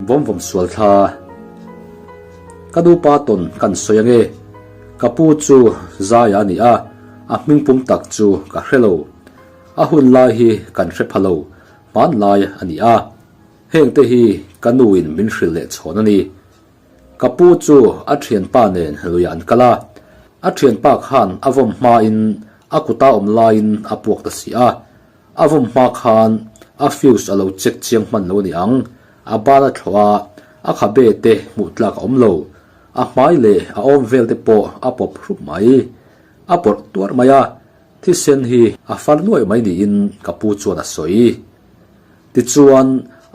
Vawm vawm sual thla a, ka nupa tawn kan sawi ange, ka pu chu Zaya a ni a, a hming pum tak chu ka hre lo, a hun lai hi kan hre pha lo, hmanlai a ni a, hengte hi ka nu in min hrilh leh chhawn a ni. Ka pu chu a thianpa nen luiah an kal a, a thianpa khan a vawm hmain a kuta awm laiin a puak ta si a, a vawm hma khan a fuse a lo check chiang hman lo ni ang, a ban a thlawh a, a khabe te hmuh tlak a awm lo, a hmai leh a awm vel te pawh a pawp hrup mai, a pawrh tuar mai a, thisen hi a far nuaih mai niin ka pu chuan a sawi. Tichuan,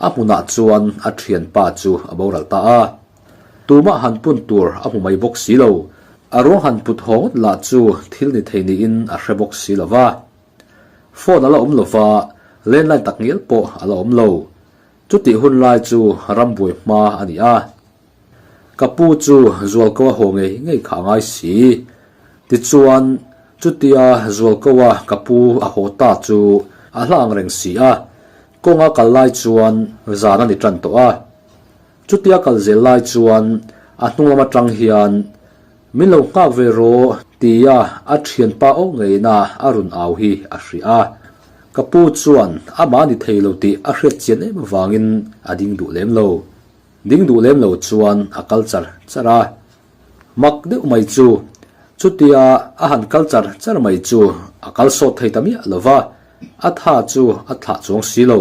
a hmunah chuan a thianpa chu a boral ta a, Tumah han pun tur a hmu mai bawk si lo, a ruang han put haw ngawt lah chu thil ni thei niin a hre bawk si lo va. Phone a la awm lova, landline tak ngial pawh a la awm lo. Chutih hun lai chu rambuai hma a ni a. Ka pu chu Zualkaua haw ngei ngei kha a ngai si. Tichuan, chutia Zualkaua ka pu a haw ta chu a hla ang reng si a, kawng a kal lai chuan zan a ni tan tawh a. Chutia kal zel lai chuan a hnunglam atang hian, Min lo nghak ve raw? tia a thian pa auh ngeiin a a run au hi a hria a. Ka pu chuan amah a ni thei lo tih a hriat chian em avangin a ding duh lem lo. Ding duh lem lo chuan a kal char char a, mak deuh mai chu. Chutia a han kal char char mai chu a kal sawt thei ta miah lo va, a tha chu a thlah chuang si lo.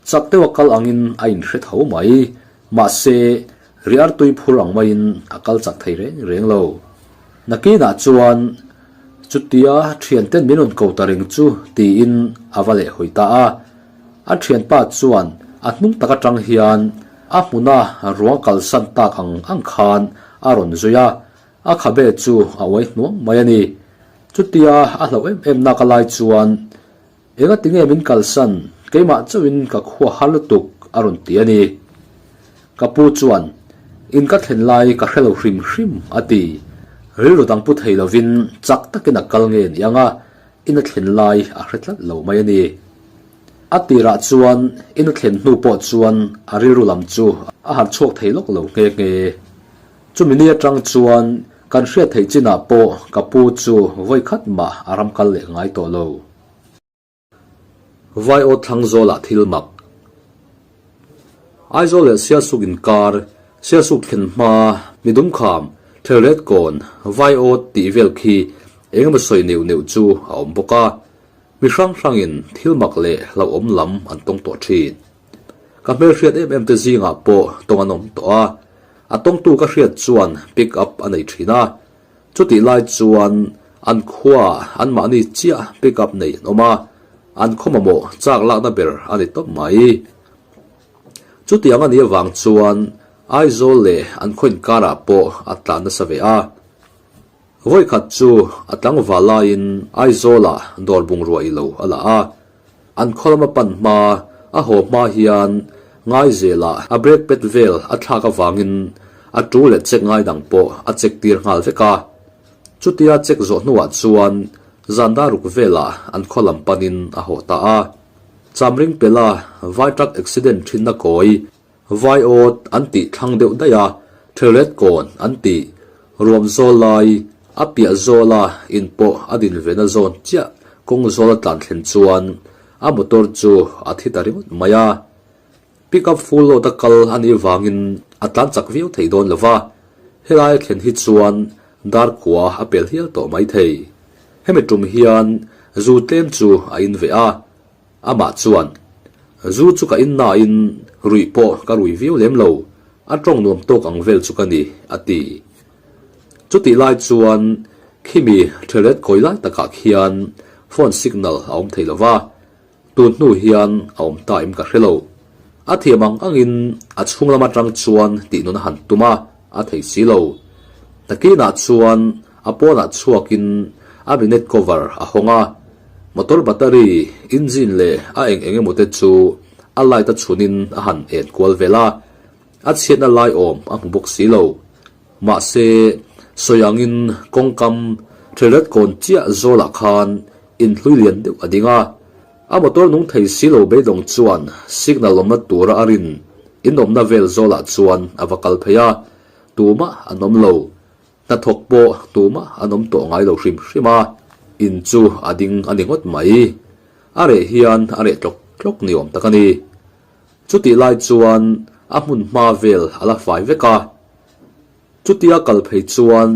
Chak deuha kal angin a inhre tho mai, mahse, riartui phur ang maiin a kal chak thei reng reng lo. Nakinah chuan, Chutia thianten min rawn ko ta reng chu, tiin a va leh hawi ta a. A thianpa chuan a hnung tak atang hian a hmuna ruang kalsan tak ang ang khan a rawn zui a, a khabe chu a uai hnuam mai a ni. Chutia a hlo em em naka lai chuan, Enga tinge min kalsan, keimah chauhin ka khua har lutuk, a rawn ti a ni. Ka pu chuan, In ka thlen lai ka hre lo hrim hrim, a ti. Rilru dang pu thei lovin chak takin a kal nge ni ang a. In a thlen lai a hre tlat lo mai a ni. A tirah chuan in a thlen hnu pawh chuan a rilru lam chu a harh chhuak thei lawk lo nghe nghe. Chumi ni atang chuan kan hriat theih chinah pawh ka pu chu vawi khat mah a ram kal leh ngai tawh lo. Vaio thlang zawlah thil mak. Aizawl leh Sialsuk inkar, Sialsuk thlen hma, mi dumkham, thlirêt kâwn, vaiawt tih vêl khi eng emaw sawi neuh neuh chu a awm bawk a, mi hrang hrangin thil mak leh hlauhawm lam an tawng tawh ṭhin. Ka hmelhriat em em te zingah pawh tawng an awm tawh a, a tawngtu ka hriat chuan pick up a nei ṭhin a, Chutih lai chuan an khuaa an mahni chiah pick up nei an awm a, an khaw mamawh chak lakna ber a ni tawp mai. Chutiang a nih avang chuan Aizawl leh an khaw inkarah pawh a tlan nasa ve a. Vawikhat chu a tlangval laiin Aizawla dawr bungrua ilo a la a. An khawlama pan hma a haw hma hian ngaizela a break pet vel a thlak avangin a ṭu leh check ngai dang pawh a check tir nghal vek a. Chutia check zawh hnuah chuan zanda ruk velah an khawlam panin a haw ta a. Chamring pela vai truck accident ṭhinna kawi Vai awt an tih thlang deuh daih a, Thrillet kawn an ti ruam zawl lai, a piah zawla in pawh a din ve na zawn chiah, kawng zawl a tlan thlen chuan a motor chu a thi ta ringawt mai a, pickup full load a kal a nih vangin a tlan chak viau thei dawn lo va, helai thlen hi chuan dar khua a pel hial tawh mai thei, hemi tum hian zu tlem chu a in veh a. Amah chuan, Zu chu ka in nain ruih pawh ka rui viau lem lo, a tawng nuam tawk ang vel chu ka ni, a ti. Chutih lai chuan khimi ṭheret kawi lai takah khian phone signal a awm thei lo va, tun hnu hian a awm ta em ka hre lo. A thiam ang angin a chhung lam aṭang chuan tihnawn a han tum a, a thei si lo. Takinah chuan a pawnah chhuakin a minute cover a hawng a, motor battery, engine leh a eng eng emawte chu a light a chunin a han en kual velh a, a chhiatna lai awm a hmu bawk si lo. Mahse, sawi angin kawngkam hrelratkawn chiah zawlah khan inhlui lian deuh a ding a, A motor nung thei si lo beidawng chuan signal awmna tura a rin in awmna vel zawlah chuan a va kal phei a, tumah an awm lo. Hnathawk pawh tumah an awm tawh ngai lo hrim hrim a, in chu a ding a ni ngawt mai. A reh hian a reh tlawk tlawk ni awm tak a ni. Chutih lai chuan a hmun hma vel a la fai vek a. Chutia kal phei chuan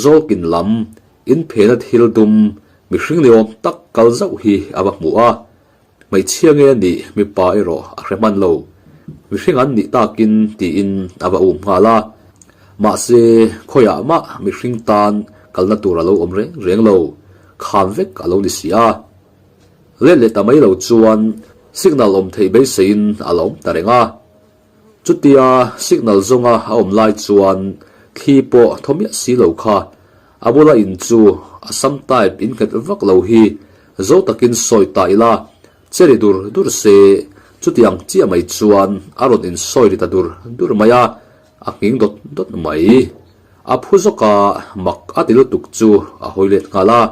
Zawlkin lam in phena thil dum mihring ni awm tak kal zauh hi a va hmu a, hmeichhia nge ni mipa erawh a hre hman lo, mihring an nih takin tiin a va um nghal a. Mahse khawiah mah mihring tan kalna tur a lo awm reng reng lo, kham vek a lo ni si a. Let leh ta mai lo chuan signal awm theih beiseiin a la awm ta reng a. Chutia signal zawnga a awm lai chuan thli pawh thaw miah si lo kha. A bula in chu a sam type in nghet vak lo hi zo takin sawi ta ila, che ri dur dur se chutiang chiah mai chuan a rawn in sawi ri ta dur dur mai a, a nghing dawt dawt mai. A phu zawka mak a ti lutuk chu a hawi let nghal a.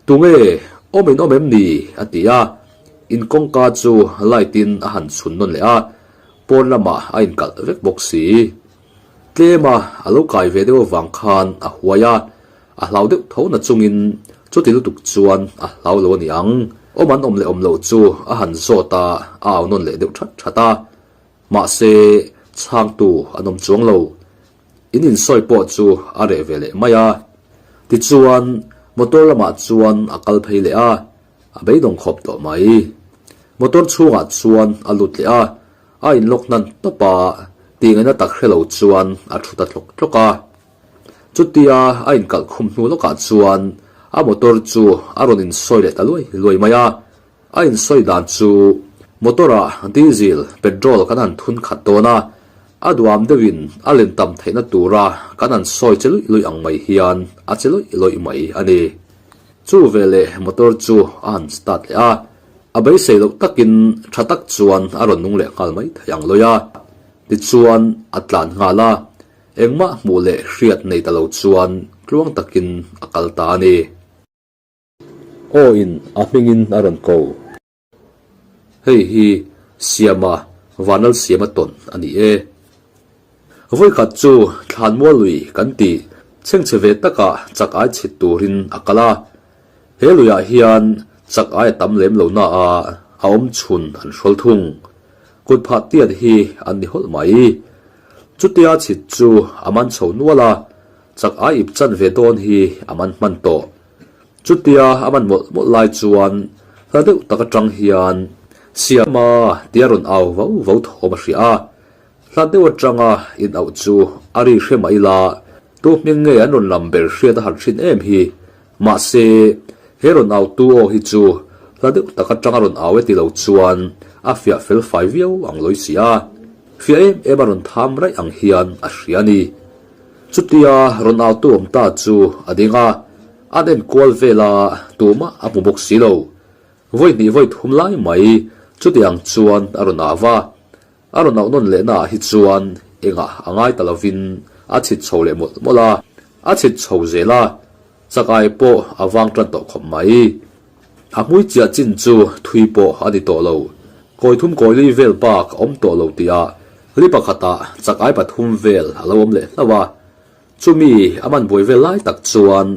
Tunge, awmin awm em ni? a ti a, in kawngka chu light in a han chhun nawn leh a, pawn lamah a in kalh vek bawk si. Tlema a lo kai ve deuh avang khan a huai a, a hlau deuh tho na chungin chuti lutuk chuan a hlau lo a ni ang. Awman awm leh awm loh chu a han zawt a, a au nawn leh deuh that that a, mahse chhangtu an awm chuang lo. In insawi pawh chu a reh ve leh mai a. Tichuan, motor lamah chuan a kal phei leh a, a beidawng khawp tawh mai. Motor chhungah chuan a lut leh a, a inlock hnan tawp a, tingaina tak hrelo chuan a thu ta tlawk tlawk a. Chutia a inkalh khum hnu lawkah chuan a motor chu a rawn insawi leh ta luai luai mai a. A insawi dan chu motor-a diesel, petrol, kan han thun khat dawn a, a duam deuhin a len tam theihna tura kan han sawi che luih luih ang mai hian a che lawih lawih mai a ni. Chu ve leh motor chu a han start leh a, a beisei loh takin tha tak chuan a rawn nung leh nghal mai thei ang lawih a, tichuan a tlan nghal a, engmah hmuh leh hriat nei ta lo chuan tluang takin a kal ta a ni. Aw-in a hmingin a rawn ko. Hei hi Siama vanal siama tawn a ni e. Vawikhat chu thlanmual lui kan ti chhengchhe ve taka chak ai chhit turin a kal a. He luiah hian chak ai a tam lem lo naah a awm chhun an hrawl thung. Kut phah tiat hi an ni hawlh mai. Chutia chhit chu a man chho nual a, chak ai ip chan ve dawn hi a man hman tawh. Chutia a man mawlh mawlh lai chuan hla deuh tak atang hian siam a tia rawn au vo vo thawm a hria. Hla deuh atanga inauh chu a ri hre mah ila tu hming nge an rawn lam ber hriat a han hrin em hi. Mahse, he rawn au tu aw hi chu hla deuh tak atanga rawn au e ti lo chuan a fiah fel fai viau ang lawisia fiah em em a rawn tham raih ang hian a hria a ni. Chutia rawn autu awm ta chu a ding a, an enkual vela tumah a hmu bawk si lo. Vawi hnih vawi thum lai mai chutiang chuan a rawn au va, a rawn auh nawn leh naah hi chuan engah a ngai ta lovin a chhit chho leh mawlh mawlh a, a chhit chho zel a, Chakai pawh a vang tan tawh khawp mai. A hmui chiah chin chu thui pawh a ni tawh lo. Kawithum kawilui vel bak a awm tawh lo tia hli pakhatah chakei pathum vel a lo awm leh hlauh a. Chumi a man buai vel lai tak chuan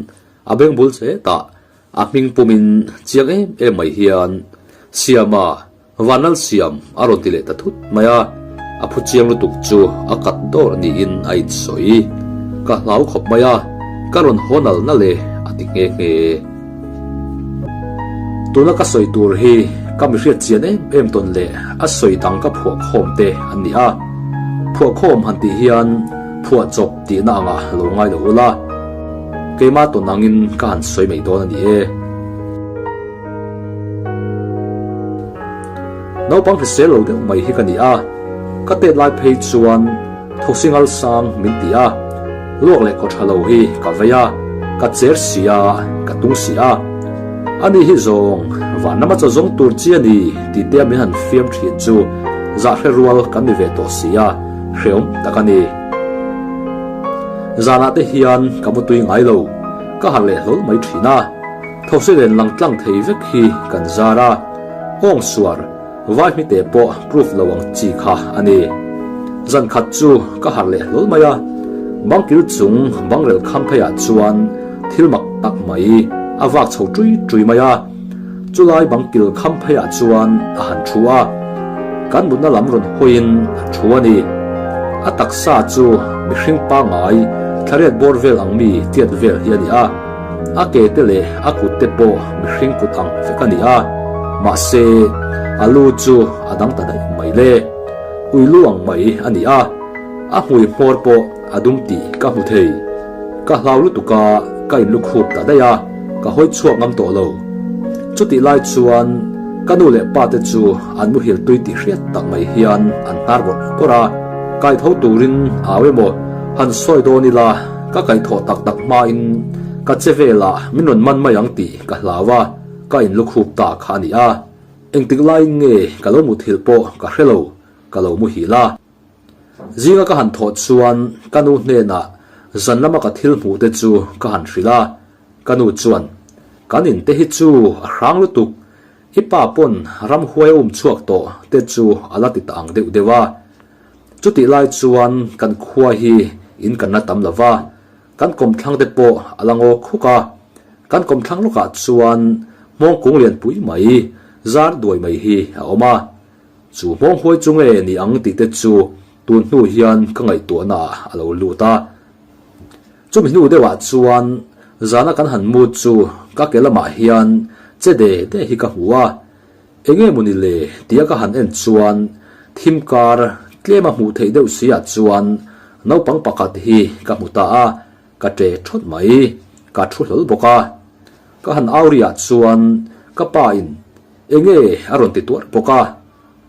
a beng bul chetah a hming pumin chiang em em mai hian siama, Vanal siam a raw ti leh ta thut mai a, a phu chiang lutuk chu a kat dawr niin a insawi. Ka hlau khawp mai a, ka rawn haw nal nal e a ti nghe nghe. Tuna ka sawi tur hi ka mi hriatchian em em tawn leh a sawi dang ka phuah khawm te an ni a. Phuah khawm han tih hian phuah chawp tihna angah lo ngai lo ula, keimah tawn angin ka han sawi mai dawn a ni e. Naupang hrisel lo deuh mai hi ka ni a, ka tet lai phei chuan Thosi ngal sang min ti a, luak leh kawtha lo hi ka vei a, ka cher si a, ka tung si a. Ani hi zawng vanna macha zawng tur chi a ni tihte a min han fiam thin chu zah hre rual kan ni ve tawh si a, hreawm tak a ni. Zanah te hian ka mutui ngai lo, ka harh leh hlawl mai thin a. Thawhselen lang tlang thei vek hi kan zar a, hawng suar, vai hmite pawh proof lo ang chi kha a ni. Zan khat chu ka harh leh hlawl mai a, bangkil chung bangrel kham pheiah chuan thil mak tak mai a vak chho ṭui ṭui mai a, chulai bangkil kham pheiah chuan a han ṭhu a, kan mutna lam rawn hawiin a ṭhu a ni. A taksa chu mihring pangngai thlariat bawr vel ang mi tiat vel hi a ni a. A ke te leh a kut te pawh mihring kut ang vek a ni a, mahse, a lu chu a dang ta daih mai le, uilu ang mai a ni a, a hmui hmawr pawh a dum tih ka hmu thei. Ka hlau lutuk a, ka in lukhup ta daih a, ka hawi chhuak ngam tawh lo. Chutih lai chuan ka nu leh pa te chu an muhil tui tih hriat tak mai hian an hnar bawrh bawrh a, kai tho turin au emaw han sawi dawn ila, Ka kaihthawh tak tak hmain ka che velah min rawn man mai ang tih ka hlau a, ka inlukhup ta kha a ni a, engtik laiin nge ka lo muthilh pawh ka hre lo, ka lo muhil a. Zinga ka han thawh chuan ka nu hnenah zan lama ka thil hmuh te chu ka han hrilh a, ka nu chuan, Kan in te hi chu a hrang lutuk. Hi pa pawn ram huai um chhuak tawh te chu a la ti ta ang deuh deuh a, chutih lai chuan kan khua hi in kan la tam lova, kan kawm thlang te pawh a la ngawk khuk a, kan kawm thlang lawkah chuan hmawng kung lian pui mai, zar duai mai hi a awm a, chu hmawng huai chu nge ni ang tih te chu tun hnu hian ka ngaihtuahnaah a lo lut a. Chumi hnu deuhah chuan zana kan han mut chu ka ke lamah hian che de de hi ka hmu a, eng nge mawni le tia ka han en chuan thim kar tlema hmuh theih deuh suiah chuan naupang pakhat hi ka hmu ta a, ka che thawt mai, ka thu hlawl bawk a. Ka han au ri ah chuan ka pa in eng nge a rawn ti tuar bawk a,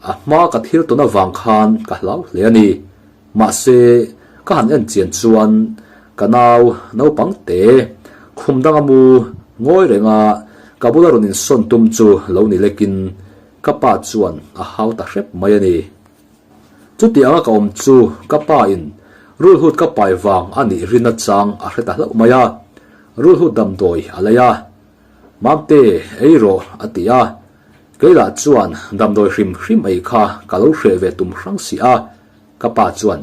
a hma ka thil ton avang khan ka hlau hle a ni, Mahse, ka han en chian chuan ka nau naupang te khum danga mu ngawi renga ka bula rawn insawn tum chu lo ni lekin ka pa chuan a hau ta hrep mai a ni. Chuti anga ka awm chu ka pa in rulhut ka pai vang a nih rin achang a hre ta hlauh mai a, rulhut damdawi a lei a. Mamte, ei rawh a ti a, kei lah chuan damdawi hrim hrim ei kha ka lo hreh ve tum hrang si a. Ka pa chuan,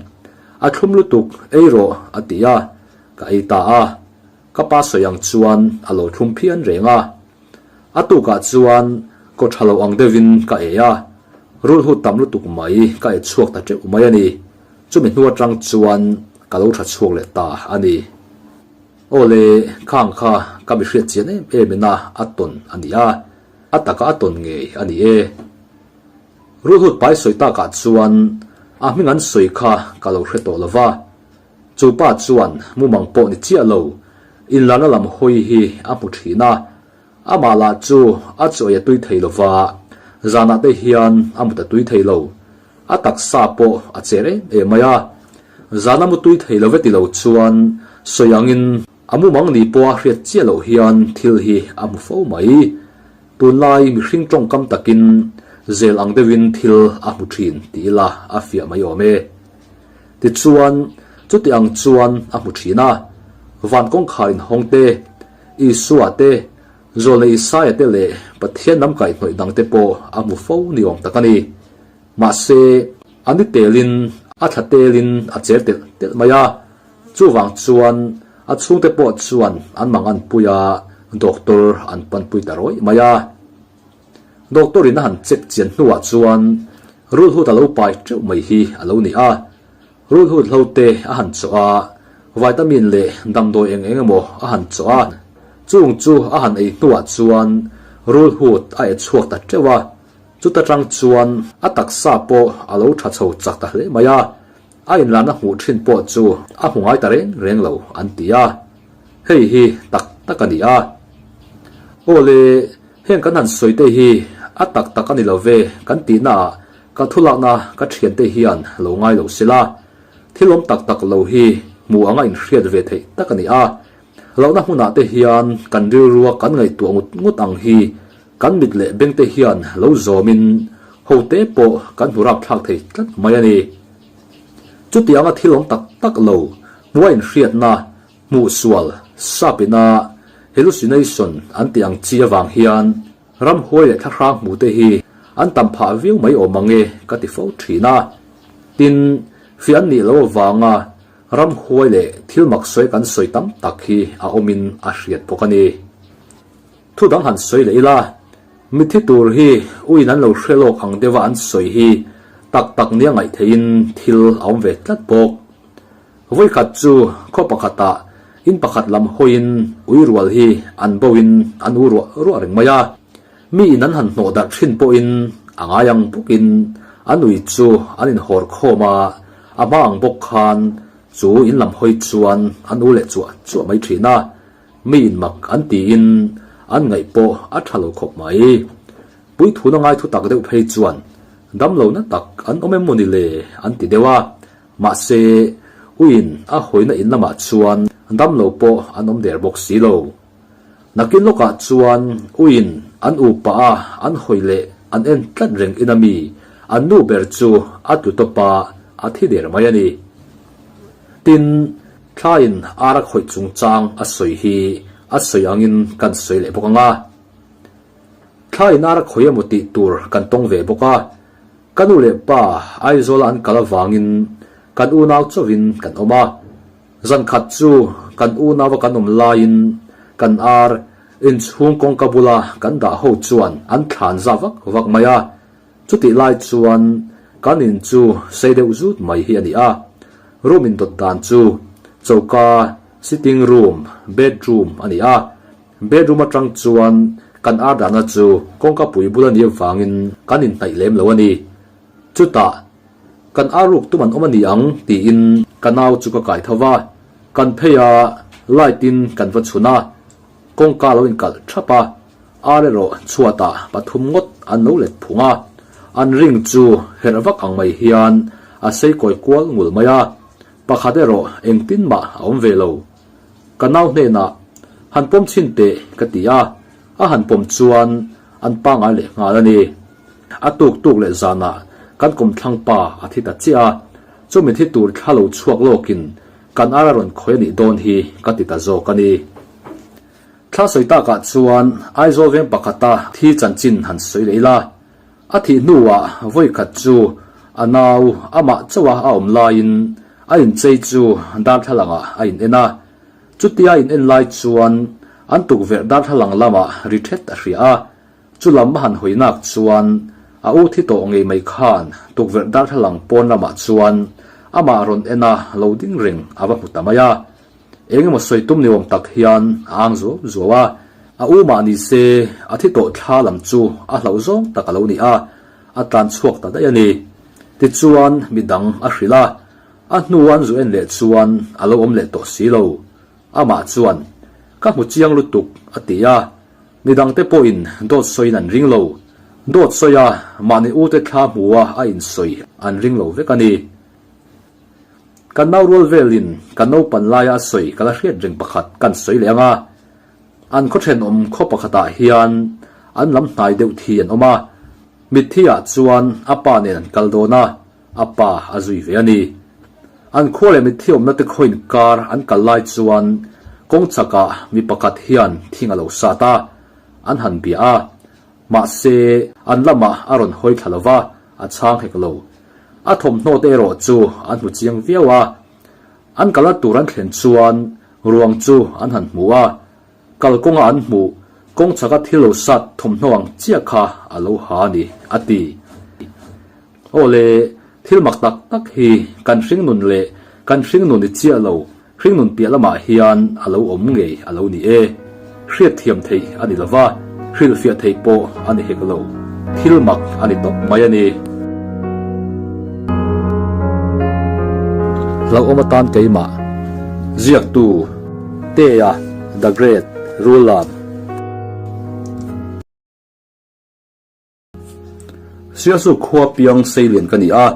A thlum lutuk eirawh a ti a, ka ei ta a, ka pa sawi ang chuan a lo thlum phian reng a. A tukah chuan kaw tha lo ang deuhin ka ei a, rul hut tam lutuk mai ka ei chhuak ta teuh mai a ni. Chumi hnu atang chuan ka lo tha chhuak leh ta a ni. Aw le, khang kha ka mi hriatchian em em ina a tawn a ni a, a taka a tawn ngei a ni e. Ruhlut pai sawi takah chuan a hming an sawi kha ka lo hre tawh lo va, chu pa chuan mumang pawh ni chiah lo, inlarna lam hawi hi a hmu thin a, amah lah chu a chawi a tui thei lo va, zanah te hian a mut a tui thei lo, a taksa pawh a cher em em mai a, zan a mu tui thei lo ve ti lo chuan sawi angin a mumang ni pawha hriat chiah loh hian thil hi a hmu fo mai. Tunlai mihring tawngkam takin zel ang deuhin thil a hmu thin ti ila a fiah mai awm e. Tichuan, chuti ang chuan a hmu thin a, van kawngkhar inhawngte, Isua-te, zawlnei Isaiah-te leh Pathian lam kaihnawih dangte pawh a hmu fo ni awm tak a ni. Mahse, a ni telin, a thla telin a cher telh telh mai a. Chuvang chuan a chhungte pawh chuan an mang an pui a, doctor an panpui ta rawih mai a. Doctor in a han check chian hnuah chuan Rulhut a lo pai teuh mai hi a lo ni a. Rulhut hlote a han chawh a, vitamin leh damdawi eng eng emaw a han chawh a. Chung chu a han ei hnuah chuan Rulhut a e chhuak ta teuh a, chuta tang chuan a taksa pawh a lo tha chho chak ta hle mai a. A inlahna hmuh thin pawh chu a hmu ngai ta reng reng lo an ti a, hei hi tak tak a ni a. Aw le, heng kan han sawi te hi a tak tak a ni lo ve kan tihnaah ka thu lakna ka thian te hian lo ngai lo sela, thil awm tak tak lo hi hmuh anga inhriat ve theih tak a ni a. Lohna hmunah te hian kan rilrua kan ngaihtuah ngut ngut ang hi Kan mit leh bengte hian lo zawmin hote pawh kan hmu rapthlak thei tlat mai a ni. Chutianga thil awm tak tak lo hmua inhriatna hmuhsual sapina hallucination an tih ang chi avang hian ramhuai leh thlahrang hmute hi an tam phah viau mai awm ang e ka ti fo thin a. Tin, fian nih loh avanga ramhuai leh thil maksawi kan sawi tam tak hi a awmin a hriat bawk a ni. Thu dang han sawi leh ila, mithi tur hi uin an lo hre lawk ang deuha an sawi hi tak tak nia ngaih theihin thil a awm ve tlat bawk. Vawi khat chu khaw pakhata in pakhat lam hawiin ui rual hi an boin an u ruah ruah reng mai a, mi in an han hnawh darh thin pawhin a ngai ang bawkin a nui chu an in hawr khawm a, a hma ang bawk khan chu in lam hawi chuan an u leh chuah chuah mai thin a. Mi inmak an tiin an ngaih pawh a tha lo khawp mai. Puithuhna ngai thutak deuh phei chuan damlo na tak an awm em maw ni le an ti deuh a, mahse Uin a hawina in lamah chuan damlo pawh an awm der bawk si lo. Nakin lawkah chuan Uin an u pah a an hawi leh an en tlat reng ina mi an nu ber chu a tlu tawpa a thi der mai a ni. Tin, Thlaiin ara khawih chungchang a sawi hi a sawi angin kan sawi leh bawk anga, thlaiin ara khawih emaw tih tur kan tawng ve bawk a. Ka nu leh pa Aizawla an kal avangin kan unau chauhin kan awm a. Zan khat chu kan unaua kan awm laiin kan ar inchhung kawngka bula kan dah ho chuan an thlan za vak vak mai a. Chutih lai chuan kan in chu sei deuh zut mai hi a ni a, room in dawt dan chu choka, sitting room, bedroom a ni a, bedroom atang chuan kan ar dana chu kawngka pui bul a nih avangin kan in hnaih lem lo a ni. Chutah kan ar ruk tum an awm a ni ang tiin ka nau chu ka kai tho va, kan phei a light in kan va chhun a, Kawngka a lo inkalh thap a, a reraw chhuatah pathum ngawt an lo let phung a, an ring chu herh vak ang mai hian a seikawi kual ngul mai a, pakhat erawh engtin mah a awm ve lo. Ka nau hnenah, Han pawm chin teh, ka ti a, a han pawm chuan an pangai leh nghal a ni. A tuk tuk leh zanah kan kum thlang pa a thi ta chiah a, chumi thi tur thla lo chhuak lawkin Kan ara rawn khawih a nih dawn hi ka ti ta zawk a ni. Thla sawi takah chuan Aizawl veng pakhata thi chanchin han sawi leh ila, a thih hnuah vawikhat chu a nau a mah chauha a awm laiin a inchei chu darthlangah a inen a. Chutia a inen lai chuan an tukverh darthlalang lamah ri ṭhet a hria a. Chu lam a han hawinak chuan a u thi tawh ngei mai khan tukverh darthlalang pawn lamah chuan amah rawn en a lo ding reng a va hmu ta mai a. Eng emaw sawi tum ni awm tak hian a ang zuau zuau a, a u mah ni se a thi tawh thla lam chu a hlau zawng tak a lo ni a, a tlan chhuak ta daih a ni. Ti chuan mi dang a hrilh a, a hnu an zu en leh chuan a lo awm leh tawh si lo. Amah chuan, Ka hmu chiang lutuk, a ti a. Ni dangte pawhin dawt sawiin an ring lo. Dawt sawi a, mahni ute thla hmua a insawi an ring lo vek a ni. Kan nau rual velin kan naupan laia a sawi ka la hriat reng pakhat kan sawi leh anga, an khawthen awm khaw pakhatah hian an lam hnai deuh thi an awm a, mitthi ah chuan a pa nen an kal dawn a, A pa a zui ve a ni. An khua leh mitthiawmna te khawiin kar an kal lai chuan kawng chakah mi pakhat hian thing a lo sat a, an han bia a. Mahse, an lamah a rawn hawi thla lova, a chhang hek lo. A thawmhnaw te erawh chu an hmu chiang viau a. An kal a tur an thlen chuan ruang chu an han hmu a, kal kawnga an hmuh kawng chaka thil lo sat thawmhnaw ang chiah kha a lo ha a ni, a ti. Awle, thil mak tak tak hi kan hringnun leh kan hringnun i chiah lo hringnun piah lamah hian a lo awm ngei a lo ni e. Hriatthiam theih a ni lova, hrilhfiah theih pawh a ni hek lo. Thil mak a ni tawp mai a ni. Hlauhawm atan keimah ziaktu Tea the Great rul lam. Sialsuk khua piang seilian ka ni a,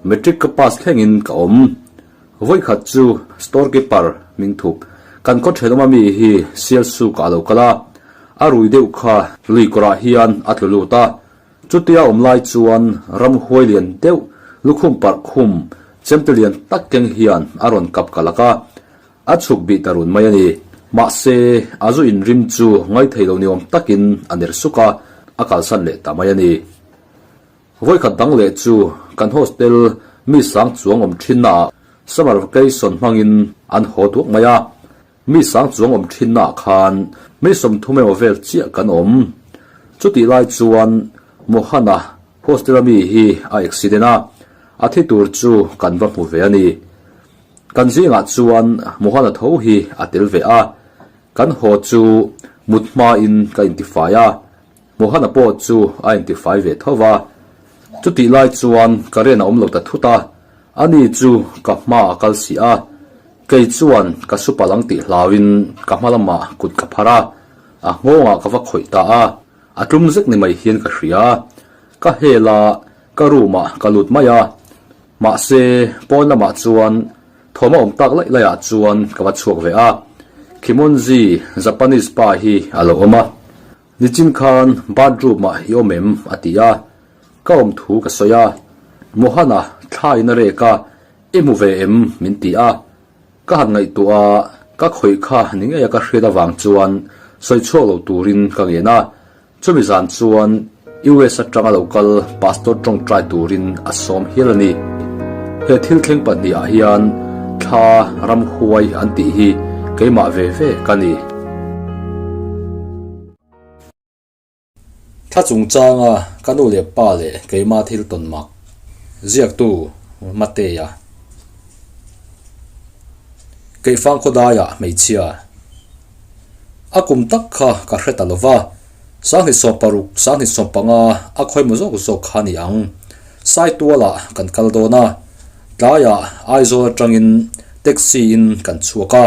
Matric ka pass thlengin ka awm. Vawikhat chu store keeper hming thup kan khaw thenawm ami hi Sialsukah a lo kal a, a rui deuh kha Luikawrah hian a tlu lut a. Chutia awm lai chuan ramhuai lian deuh lukhum parh khum chemte lian tak keng hian a rawn kap ka lak a, A chhuk bih ta run mai a ni. Mahse, a zu in rim chu ngai thei lo ni awm takin a ner suk a, a kalsan leh ta mai a ni. Vawikhat dang leh chu kan hostel mi sang chuang awm thinnaah summer vacation hmangin an haw duak mai a. Mi sang chuang awm thinnaah khan mi sawmthum emaw vel chiah kan awm. Chutih lai chuan Mohana hostela mi hi a accident a, a thi tur chu kan va hmu ve a ni. Kan zingah chuan Mohana tho hi a tel ve a, kan haw chu mut hmain ka intifai a, Mohana pawh chu a intifai ve tho va. Chutih lai chuan ka rian a awm lo ta thut a, ani chu ka hma a kal si a, kei chuan ka su pal ang tih hlauin ka hma lamah kut ka phar a, a nghawngah ka va khawih ta a, a tlum zek ni mai hian ka hria, ka hela ka room-ah ka lut mai a, Mahse, pawn lamah chuan thawm a awm tak laih laih ah chuan ka va chhuak ve a. Kimonji, Japanese pa hi a lo awm a, nichin khan bathroom ah i awm em a ti a, ka awm thu ka sawi a, Mohana thlai in a rek a, i hmu ve em min ti a, ka han ngaihtuah a, ka khawih kha ni ngei a ka hriat avang chuan sawi chhuak lo turin ka ngen a. Chumi zan chuan US atanga lo kal Pastor tawngtai turin a sawm hial a ni. He thil thleng pahnihah hian thla ramhuai an tih hi keimah ve ve ka ni. Thla chungchanga ka nu leh pa leh keima thil tawn mak ziaktu Mateya keihfang khawdaia hmeichhia. A kum tak kha ka hre ta lo va, Sanghnitsawm paruk, Sanghnitsawm panga a khawi maw zawk zawk kha ni ang. Sai tualah kan kal dawn a, tlaiah Aizawl atangin taxi in kan chhuak a,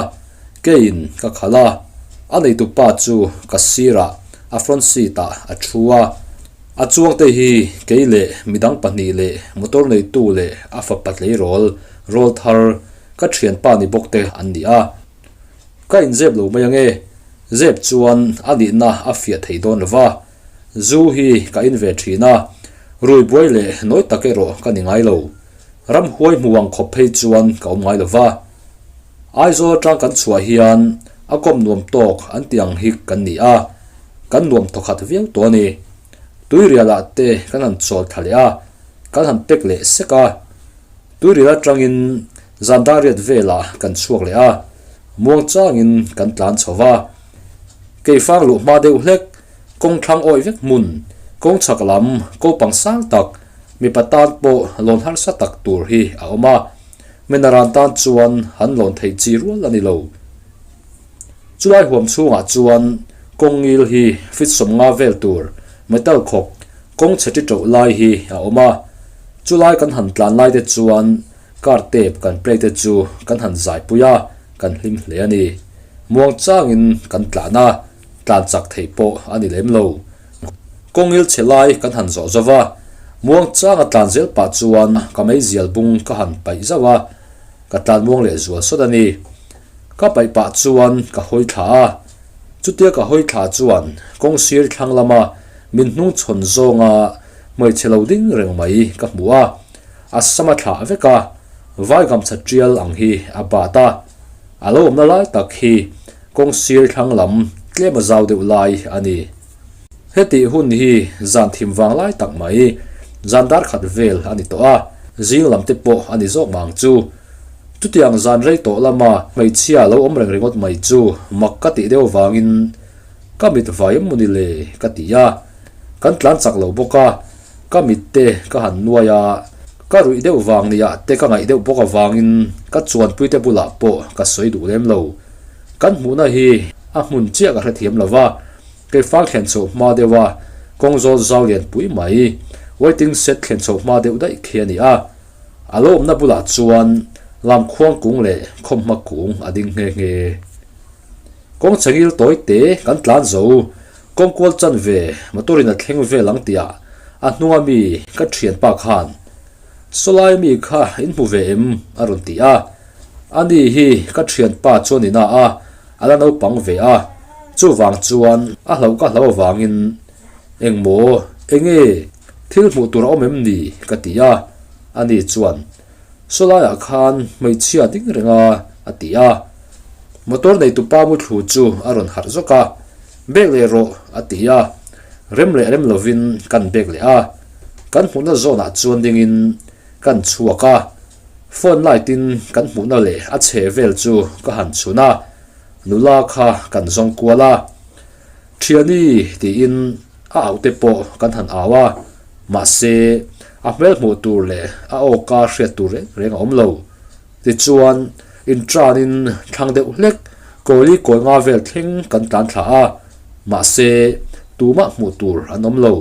keiin ka khal a, a neihtu pa chu ka sirah a front seat ah a thu a. A chuangte hi kei leh midang pahnih leh motor neitu leh a fapa tleirawl rawl thar ka thianpa ni bawkte an ni a. Ka inzep lo mai ange. Zep chuan a nihna a fiah thei dawn lova, Zu hi ka in ve thin a, ruihbuai leh nawi tak erawh ka ni ngai lo. Ramhuai hmu ang khawp phei chuan ka awm ngai lova. Aizawl atang kan chhuah hian a kawm nuam tawk an tih ang hi kan ni a, kan nuam thaw khat viau tawh a ni. Tuirialah te kan han chawl thla leh a, kan han pek leh sek a. Tuirial atangin. Zandariat velah kan chhuak leh a, muangchangin kan tlan chho va, kei fang luh hma deuh hlek, kawng thlang awih vek hmun, kawng chhak lam, ko pang sang tak, mipa tan pawh lawn harsa tak tur hi a awm a, Mena ran tan chuan han lawn thei chi rual a ni lo. Chulai huam chhungah chuan kawng ngil hi feet sawm nga vel tur, metal khawk, kawng chhe ti chauh lai hi a awm a, chulai kan han tlan lai te chuan, Card te kan play te chu kan han zaipui a, kan hlim hle a ni. Muang changin kan tlan a, tlan chak theih pawh a ni lem lo. Kawngil chhe lai kan han zawh zo va, muang changa tlan zel pah chuan ka meizial bung ka han paih zauh a, ka tlan muang leh zual sawt a ni. Ka paih pah chuan ka hawi thla a, chutia ka hawi thla chuan kawng sir thlang lama min hnungchhawn zawnga hmeichhe lo ding reng mai ka hmu a. A sama thlah vek a, vai gamchhat tial ang hi a bat a, a lo awmna lai tak hi kawng sir thlang lam tlema zau deuh lai a ni. Hetih hun hi zan thim vang lai tak mai, zan darkhat vel a ni tawh a, zing lam te pawh a ni zawk mang chu. Chutiang zan rei tawh lama hmeichhia lo awm reng ringawt mai chu mak ka tih deuh vangin ka mit vai emawni le ka ti a, kan tlan chak lo bawk a. Ka mitte ka han nuai a, ka ruih deuh vang ni ah te ka ngaih deuh bawk avangin ka chuanpui te bulah pawh ka sawi duh lem lo. Kan hmuhna hi a hmun chiah ka hrethiam lo va, kei fang thlen chho hma deuh a, kawng zawl zau lian pui mai, waiting shed thlen chho hma deuh daih khi a ni a. A lo awmna bulah chuan lamkhuang kung leh khawmhma kung a ding nghe nghe. Kawng chengil tawi te kan tlan zo, kawng kual chan ve motor in a thleng vel ang tia a hnunga mi ka thian pa khan Sawlai mi kha in hmu ve em? a rawn ti a, ani hi ka thian pa chuan ina a a la naupang ve a, chuvang chuan a hloh ka hloh avangin engmaw enge thil hmuh tur a awm em ni ka ti a, ani chuan. Saw laiah khan hmeichhia ding reng a, a ti a. Motor neitu pa muthlu chu a rawn harh zawk a, Bek leh rawh, a ti a. Rem leh rem lovin kan bek leh a. Kan hmuhna zawnah chuan dingin kan chhuak a. Phone light in kan hmuhna leh a chhe vel chu ka han chhun a, nula kha kan zawng kual a. Ṭhiani, tiin. a aute pawh kan han au a, mahse, a hmel hmuh tur leh a awka hriat tur reng reng a awm lo. Tichuan, intranin thlang deuh hlek kawli kawi nga vel thleng kan tlan thla a, mahse, tumah hmuh tur an awm lo.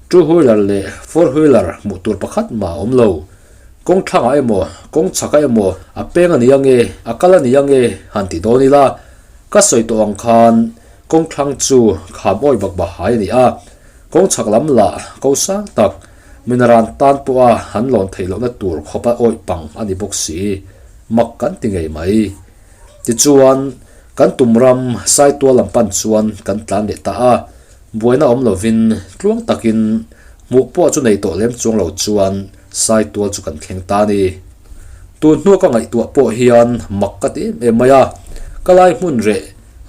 Two wheeler leh four wheeler hmuh tur pakhat mah a awm lo. Kawng thlangah emaw, kawng chhaka emaw a peng a nih ange, a kal a nih ange han ti dawn ila, ka sawi tawh ang khan, Kawng thlang chu kham awih bak bak hai a ni a, kawng chhak lam lah ko sang tak min ran tan pawh a han lawn theih lohna tur khawp a awih pang a ni bawk si, mak kan ti ngei mai. Tichuan, kan tum ram saitual lam pan chuan kan tlan leh ta a, buaina awm lovin tluang takin hmuh pawh chu nei tawh lem chuang lo chuan, Sai tual chu kan thleng ta ni. Tun hnu ka ngaihtuah pawh hian mak ka ti em em mai a, ka lai hmun reh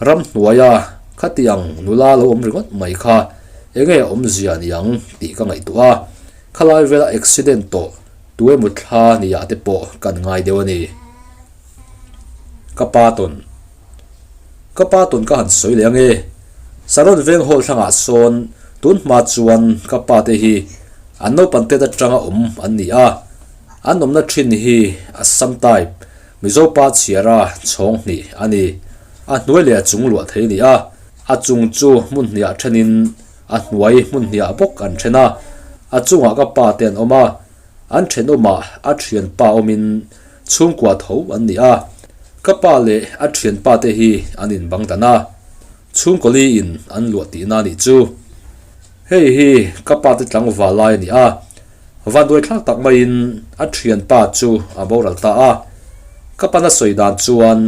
ramhnuaia khatiang nula lo awm ringawt mai kha enge a awmzia ni ang tih ka ngaihtuah a, khalai vela accident tawh tuemutthla ni ah te pawh kan ngai deuh a ni. Ka pa tawn. Ka pa tawn ka han sawi leh ange. Saron veng hawl thlangah sawn tun hma chuan ka pa te hi an naupang te atanga awm an ni a, an awmna thin hi Assam type, Mizo pa chhiara chhawng hnih a ni. A hnuai leh a chung luah thei a ni a, a chung chu hmun hniah thenin a hnuai hmun hniah bawk an then a, a chungah ka pa te an awm a. An thenawmah a thianpa awmin chhungkua tho an ni a. Ka pa leh a thianpa te hi an inbang dan a, chhungkawli in an luah tihna anih chu. Hei hi ka pa te tlangval lai a ni a, vanduaithlak tak maiin a thianpa chu a boral ta a. Ka pana sawi dan chuan,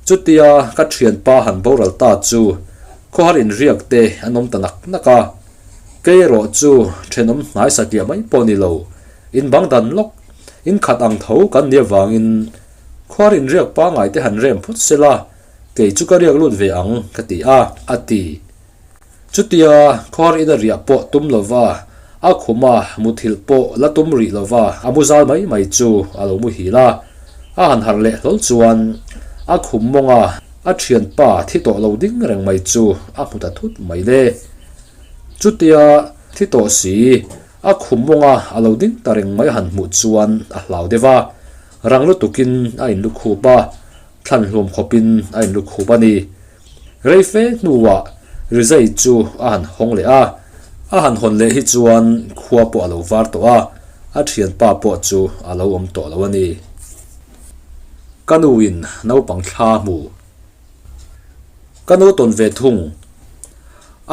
Chutia ka thianpa han boral ta chu khawhar inriak te an awm ta nak nak a. Kei erawh chu thenawm hnaisa tih mai pawh ni lo, in bang dan lawk, in khat ang tho kan nih avangin khuar inriak pangai te han rem phawt se la, kei chu ka riak lut ve ang ka ti a, a ti. Chutia khuar ina riah pawh tum lova, a khuma muthilh pawh la tum rih lova a mu zal mai mai chu a lo muhil a, a han harh leh hlawl chuan a khum mawnga a thianpa thi tawh lo ding reng mai chu a hmu ta thut mai le. Chutia thi tawh si, a khumawngah a lo ding ta reng mai a han hmuh chuan a hlau deuh a, rang lutukin a in lukhup a, thlan hluam khawpin a in lukhup a ni. Rei fe hnuah Rizai chu a han hawng leh a, a han hawn leh hi chuan khua pawh a lo var tawh a, a thianpa pawh chu a lo awm tawh lo a ni. Ka nuin naupang thla hmuh. Ka no tawn ve thung.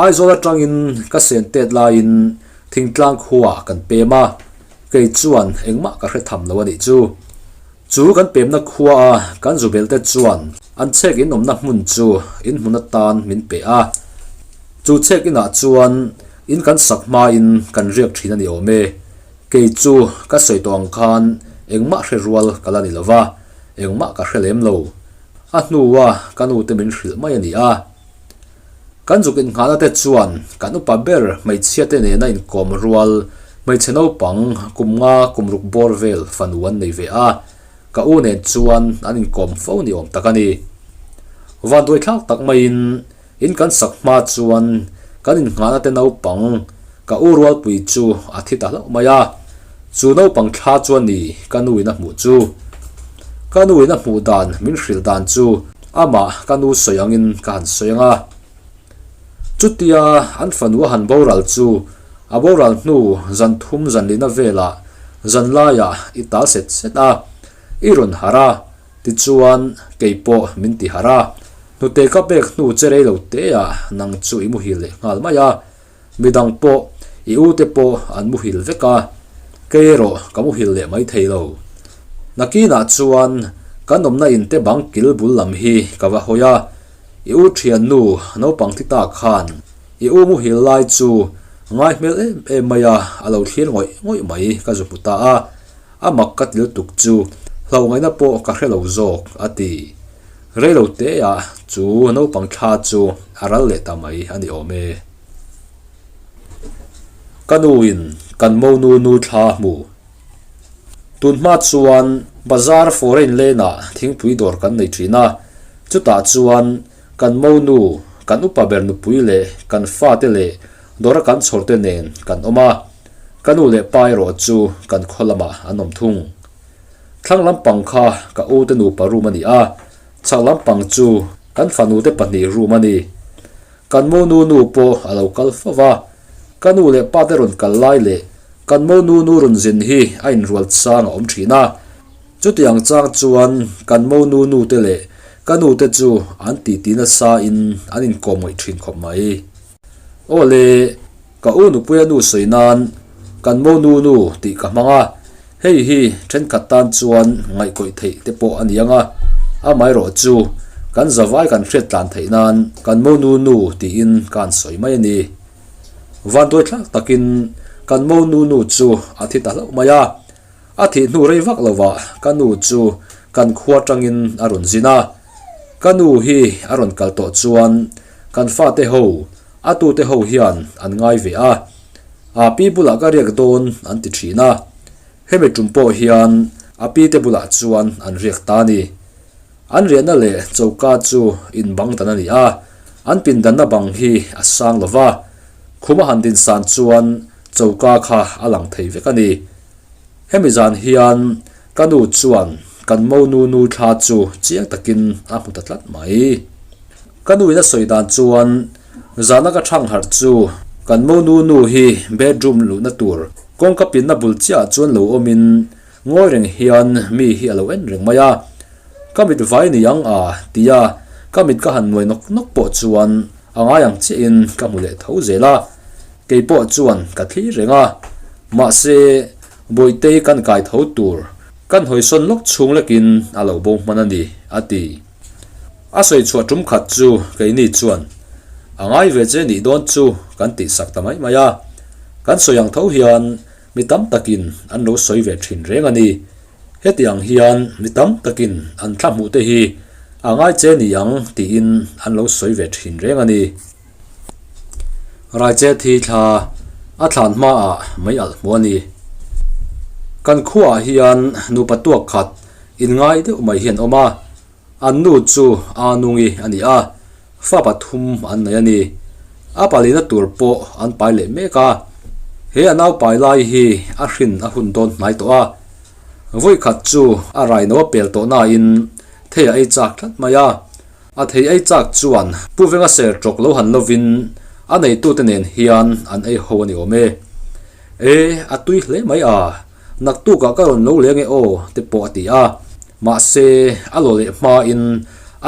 Aizawl atangin ka sen tet laiin thingtlang khua kan pem a, kei chuan engmah ka hre tham lo a nih chu. Chu kan pemna khuaa kan zu belte chuan an chhek in awmna hmun chu in hmun atan min pe a. Chu chhek inah chuan in kan sak hmain kan riak thin a ni awm e. Kei chu ka sawi tawh ang khan engmah hre rual ka la ni lova, engmah ka hre lem lo. A hnua ka nu te min hrilh mai a ni a, kan zuk inngahna te chuan kan upa ber hmeichhia te nena inkawm rual hmeichhe naupang kum nga kum ruk bawr vel fanu an nei ve a, ka u nen chuan an inkawm fo ni awm tak a ni. Vanduaithlak tak maiin. In kan sak hma chuan kan innghahna te naupang ka u Rualpuii chu a thi ta hlauh mai a. Chu naupang thla chuan ni ka nu in a hmuh chu. Ka nu in a hmuh dan min hrilh dan chu amah ka nu sawi angin ka han sawi anga. Chutia an fanu a han boral chu a boral hnu zan thum zan lihna velah zan laiah i tal set set a, i rawn harh a. Tichuan, kei pawh min ti harh a, hnute ka pek hnu che rei lo teah nang chu i muhil leh nghal mai a, midang pawh i ute pawh an muhil vek a, kei erawh ka muhil leh mai thei lo. Nakinah chuan kan awmna in te bang kil bul lam hi ka va hawi a, i u thiannu naupang thi ta khan i u muhil lai chu ngai hmel em em mai a, a lo thlir ngawih ngawih mai ka zu hmu ta a. A mak ka ti lutuk chu, Hlongaihna pawh ka hre lo zawk, a ti. Reilo teah chu naupang thla chu a ral leh ta mai a ni awm e. Ka nuin kan monu nu thla hmu. Tun hma chuan bazar foreign lane-ah thingpui dawr kan nei thin a, chutah chuan Kan monu, kan upa ber nupui leh kan fate leh dawra kan chhawrte nen kan awm a, ka nu leh pa erawh chu kan khaw lamah an awm thung. Thlang lampang kha ka ute nupa room a ni a, chak lampang chu kan fanute pahnih room a ni. Kan monu nu pawh a lo kal fo va, ka nu leh pate rawn kal lai leh kan monu nu rawn zin hi a inrual chang a awm thin a, Chutiang chang chuan kan monu nu te leh ka nu te chu an tih tih nasa in an in kawm ngaih thin khawp mai. Aw le, ka u nupui a nu sawi nan kan monu nu tih ka hmang a, hei hi thenkhat tan chuan ngaih kawih theih te pawh a ni ang a, amaherawh chu kan zavai kan hriat tlan theih nan kan monu nu tiin ka han sawi mai a ni. Vanduai thlak takin kan monu nu chu a thi ta hlauh mai a. A thih hnu rei vak lo ah ka nu chu kan khua tangin a rawn zin a, ka nu hi a rawn kal tawh chuan kan fate ho, a tute ho hian an ngai ve a, a pi bulah ka riak dawn an ti thin a, hemi tum pawh hian a pi te bulah chuan an riak ta a ni. An riahna leh choka chu inbang dan a ni a, an pindanna bang hi a sang lo va, khum a han din san chuan choka kha a lang thei vek a ni. Hemi zan hian ka nu chuan kan monu nu thla chu chiang takin a hmu ta tlat mai. Ka nu in a sawi dan chuan zan a ka thang harh chu kan monu nu hi bedroom luhna tur kawngka pinna bul chiah chuan lo awmin ngawi reng hian mi hi a lo en reng mai a, ka mit vai ni ang a tia ka mit ka han nuai nawk nawk pawh chuan a ngai ang chiahin ka hmu leh tho zel a. Kei pawh chuan ka thlir reng a, mahse Bawitei kan kai tho tur ka hnawihsawn lawk chhung lekin a lo bo hman a ni, a ti. A sawi chhuah tum khat chu keini chuan, A ngai ve che nih dawn chu kan tih sak ta mai mai a, kan sawi ang tho hian mi tam takin an lo sawi ve thin reng a ni. Heti ang hian mi tam takin an thla hmuh te hi a ngai che ni ang tiin an lo sawi ve thin reng a ni. Raiche thi thla a thlan hma ah mai alh hmu a ni. Kan khua ah hian nupa tuak khat in ngai deuh mai hi an awm a, an nu chu Anungi a ni a, fa pathum an nei a ni. A pali na tur pawh an pai leh mek a, he a nau pai lai hi a hrin a hun dawn hnai tawh a, vawi khat chu a raino a pel tawh na in thei a ei chak tlat mai a, A thei ai chak chuan Pu Venga ser tawk lo han lovin a neitute nen hian an ei ho a ni awm e. E, a tui hle mai a, naktukah ka rawn lo leng e aw te pawh a ti a, mahse a law leh hmain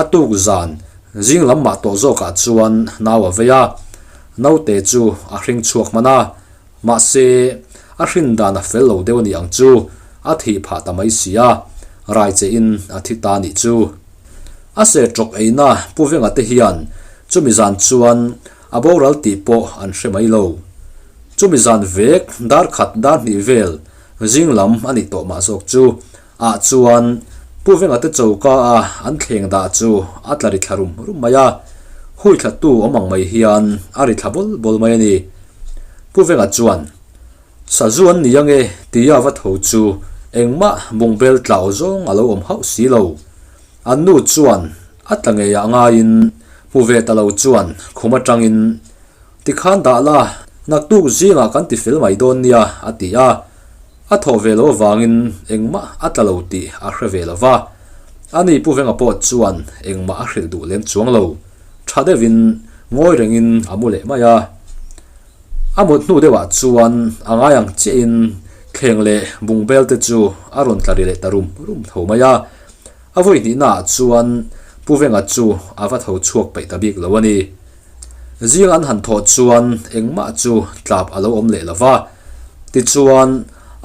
a tuk zan zing lam mah tawh zawkah chuan nau a vei a, naute chu a hring chhuak hman a. Mahse, a hrin dan a fel lo deuh a nih ang chu, a thih phah ta mai si a, rai che in a thi ta nih chu. A se tawk eina Pu Venga te hian chumi zan chuan a boral tih pawh an hre mai lo. Chumi zan vek, dar khat dar hnih vel, zing lam a nih tawh mah zawk chu Ah chuan Pu Venga te choka a an thleng dah chu a tla ri thla rum rum mai a, hui thlatu awm ang mai hian a ri thla bawlh bawlh mai a ni. Pu Venga chuan, Sazuan ni ange tia va tho chu engmah bungbel tlau zawng a lo awm hauh si lo. An nu chuan a tla ngeiah ngaiin hmu ve ta lo chuan khum atangin, Tikhan dah la, naktuk zingah kan ti fel mai dawn nia, a ti a. A thawh ve lo avangin engmah a tla lo tih a hre ve lo va, a ni pu venga pawh chuan engmah a hrilh duh lem chuang lo. Tha deuhin ngawi rengin a mu leh mai a. A mut hnu deuhah chuan a ngai ang chiahin thleng leh bung belte chu a rawn tla ri leh ta rum rum tho mai a. A vawi hnihnaah chuan pu venga chu a va tho chhuak peih ta bik lo a ni. Zing an han thawh chuan engmah chu tlap a lo awm leh lova, tichuan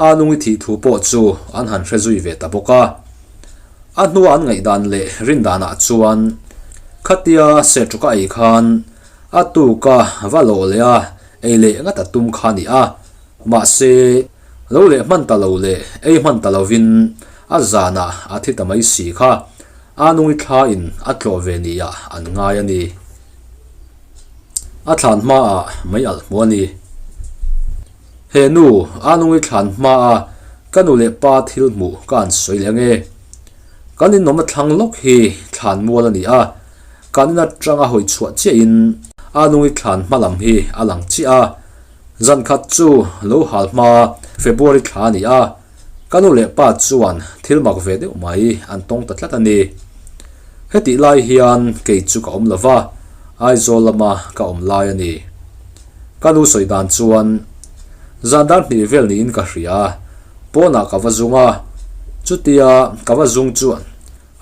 a nungi thih thu pawh chu an han hre zui ve ta bawk a. A hnua an ngaihdan leh rindanah chuan khatia Setuk a ei khan a tuka va lawh leh a, ei leh ngat a tum kha a ni a, mahse, Lo leh hman ta lo leh ei hman ta lovin a zanah a thi ta mai si kha a nungi thlain a tlawh ve ni ah an ngai a ni. A thlan hma ah mei alh hmu a ni. He nu a nungi thlan hma a ka nu leh pa thil hmuh ka an sawi leh ange. Kan inawmna thlang lawk hi thlan mual a ni a, kan in atanga hawi chhuah chiahin a nungi thlan hma lam hi a lang chiah a. Zan khat chu lo hal hma February thla a ni a, ka nu leh pa chuan thil mak ve deuh mai an tawng ta tlat a ni. Hetih lai hian kei chu ka awm lo va, Aizawl lama ka awm lai a ni. Ka nu sawi dan chuan, Zan dar hnih vel niin ka hria, pawnah ka va zung a, chutia ka va zung chuan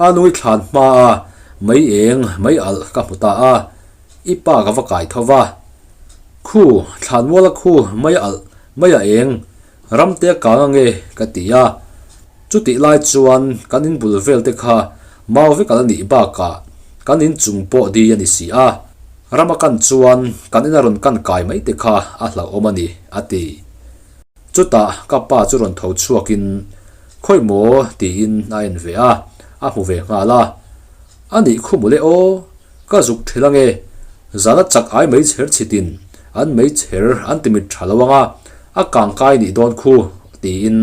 a nui thlan hmaa mei eng mei alh ka hmu ta a, i pa ka va kai tho va, khu thlanmuala khu mai a alh mai a eng ram te a kang ange ka ti a, chutih lai chuan kan in bul vel te kha mau vek ala nih bakah kan in chung pawh di a ni si a, ram akan chuan kan in a rawn kan kai mai te kha a hlauhawm a ni a ti. Chutah ka pa chu rawn tho chhuak in khawih maw tiin a en ve a, a hmu ve nghal a, a nih khumule aw Ka zuk thelh ange, zana chak ai mai chher chhitin an mei chher an ti mit tha lo anga, a kang kai nih dawn khu tiin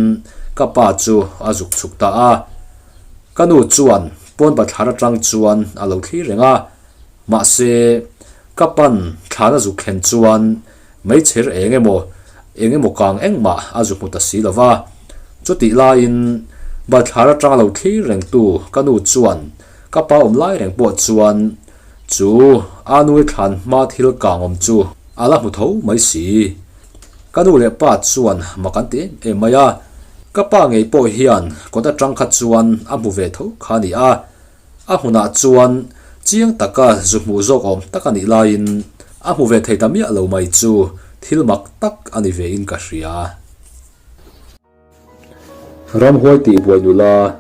ka pa chu a zuk chhuk ta a. Ka nu chuan pawn pa thlan atang chuan a lo thlir reng a, mahse ka pan thlan a zuk thlen chuan Hmeichher eng emaw, eng emaw kang engmah a zuk hmu ta si lo va. Chutih laiin, Balthlar atanga lo thlir rengtu ka nu chuan ka pa awm lai reng pawh chuan chu aa nui thlan hma thil kangawm chu a la hmu tho mai si. Ka nu leh pa chuan mak an ti em em mai a, ka pa ngei pawh hian kawt atang kha chuan a hmu ve tho kha a ni a. A hunah chuan chiang taka zu hmuh zawk awm tak a nih laiin a hmu ve thei ta miah lo mai chu thil mak tak a ni ve in ka hria. Ramhuai tih buai nula.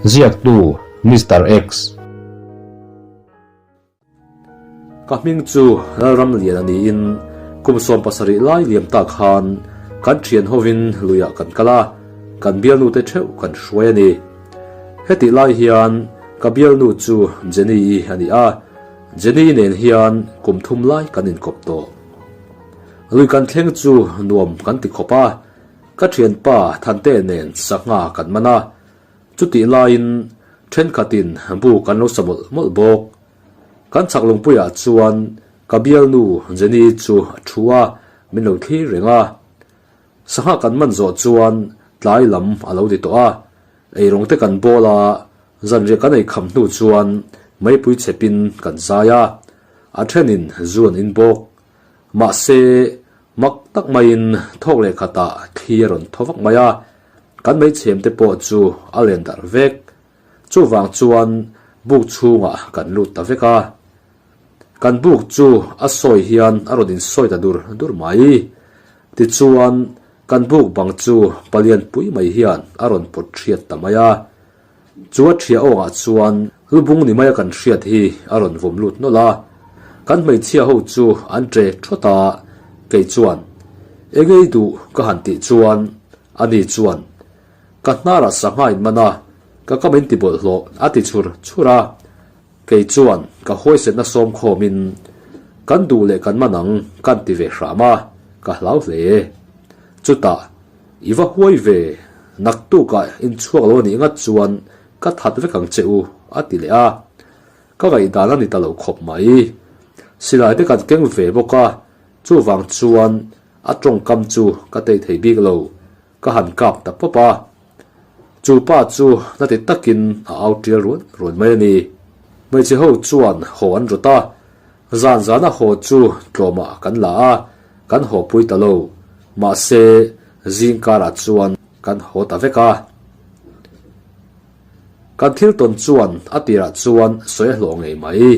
Ziaktu Mister X. Ka hming chu Lalram Lian a niin kum sawm pasarih lai liam ta khan kan thian hovin luiah kan kal a, kan bialnute theuh kan hruai a ni. Hetih lai hian ka bialnu chu Jenny i a ni a, Jenny nen hian kum thum lai kan inkawp tawh. Lui kan thleng chu nuam kan ti khawp a, ka thianpa Thante nen sangha kan man a, Chutih laiin thenkhatin bu kan lo sa mawlh mawlh bawk. Kan chak lungpuiah chuan ka bialnu Jenny chu a thu a, min lo thlir reng a. Sangha kan man zawh chuan tlai lam a lo ti tawh a, eirong te kan bawl a, zanriah ka nei kham hnu chuan meipui chhepin kan zai a, a thenin zuan in bawk. Mahse, mak tak maiin thawk leh khatah thli a rawn thaw vak mai a, kan meichhemte pawh chu a len darh vek. Chuvang chuan buk chhungah kan lut ta vek a, kan buk chu a sawi hian a rawn insawi ta dur dur mai. Tichuan, kan buk bang chu palian pui mai hian a rawn pawt hriat ta mai a. Chu a ṭhia awkah chuan lubung ni maia kan hriat hi a rawn vawm lut nawlh a, kan hmeichhia ho chu an ṭe ṭhawt a, kei chuan engei duh ka han tih chuan ani chuan ka hnarah sangha in man a, ka ka min tibawlh hlawh a ti chhur chhur a, Kei chuan ka huaisetna sawmkhawm in, Kan duh leh kan man ang kan ti ve hram a, ka hlau hle. Chutah i va huai ve nak tukah in chhuak lo anih ngat chuan ka that vek ang che u a ti leh a. Ka ngaihdan a ni ta lo khawp mai. Silai te kan keng ve bawk a, chuvang chuan a tawngkam chu ka tei thei bik lo, Ka han kap ta pawp a, chu pa chu hla ti takin a au tial ruan ruan mai a ni. Hmeichhe ho chuan haw an rawt a, zan zana haw chu tlawmah kan la a, kan haw pui ta lo. Mahse, zing karah chuan kan haw ta vek a. Kan thil tawn chuan a tirah chuan sawi a hlawh ngei mai.